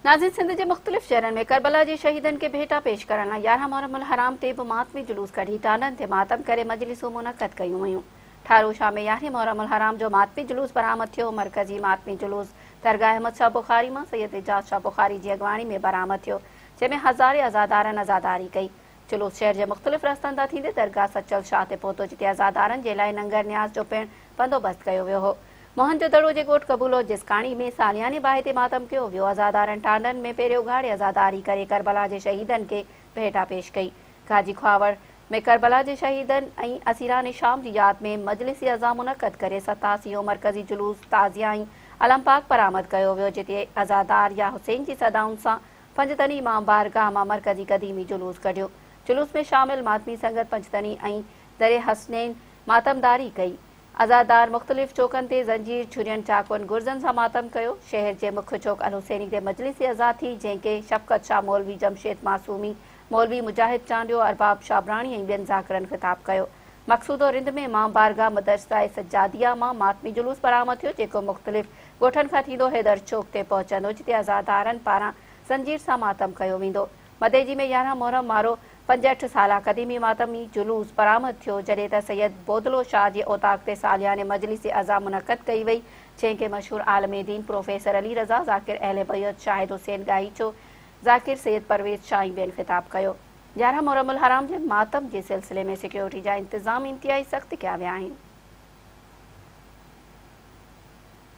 ناظرين سنڌ جي مختلف شهرن ۾ ڪربلا جي شهيدن کي ڀيٽا پيش ڪرڻ لاء يارهن محرم الحرام تي به ماتمي جلوس ڪڍي ٽالهن تي ماتم ڪري مجلسون منعقد ڪيون ويون ٺارو شاهه ۾ يارهين محرم الحرام جو ماتمي جلوس برآمد ٿيو مرڪزي ماتمي جلوس درگاهه احمد شاهه بخاري مان سيد اعجاز شاهه بخاري جي اڳواڻي ۾ برآمد ٿيو جنهن ۾ هزارين عزادارن عزاداري ڪئي جلوس شهر جي مختلف رستن تان ٿيندي درگاهه سچل شاهه تي پهتو جتي عزادارن جي لاء ننگر نياز جو پڻ بندوبست ڪيو ويو هو. موهن جو دڙو جي ڳوٺ قبولو جسڪاڻي ۾ سالياني باهه تي ماتم ڪيو ويو عزادارن ٽانڊن ۾ پيري اگهاڙي عزاداري ڪري ڪربلا جي شهيدن کي ڀيٽا پيش ڪئي گاجي کهاوڙ ۾ ڪربلا جي شهيدن ۽ اسيران شام جي ياد ۾ مجلس عزا منعقد ڪري ستاسي يو مرڪزي جلوس تعزيه ۽ علم پاڪ برآمد ڪيو ويو جتي عزادار يا حسين جي صدائن سان پنجتني مان بارگاهه مان مرڪزي قديمي جلوس ڪڍيو. جلوس ۾ شامل ماتمي سنگت پنجتني ۽ دري حسنين ماتمداري ڪئي. عزادار مختلف چوڪن تي زنجير، جھرين، چاقون، گرزن سان ماتم ڪيو. شهر جي مک چوڪ الحسيني تي مجلس عزا ٿي، جنهن کي شفقت شاهه مولوي جمشيد معصومي، مولوي مجاهد چانڊيو، ارباب شابراڻي ۽ ٻين ذاڪرن خطاب ڪيو. مقصوده رند ۾ مان بارگاهه مدرسه سجاديه مان ماتمي جلوس برآمد ٿيو، جيڪو مختلف ڳوٺن کان ٿيندو حيدر چوڪ تي پهچندو جتي عزادارن پاران زنجير سان ماتم ڪيو ويندو. مديجي ۾ يارهن محرم وارو پنجهٺ سالا قديمي ماتمي جلوس برآمد ٿيو جڏهن ته سيد بودلو شاهه جي اوطاق تي سالياني مجلس عزا منعقد ڪئي وئي جنهن کي مشهور عالم دين پروفيسر علي رضا ذاڪر اهل بيعت شاهد حسين ڳاهيچو ذاڪر سيد پرويز شاهه ۽ ٻين خطاب ڪيو. يارهن محرم الحرام جي ماتم جي سلسلي ۾ سيڪيورٽي جا انتظام انتهائي سخت ڪيا ويا آهن.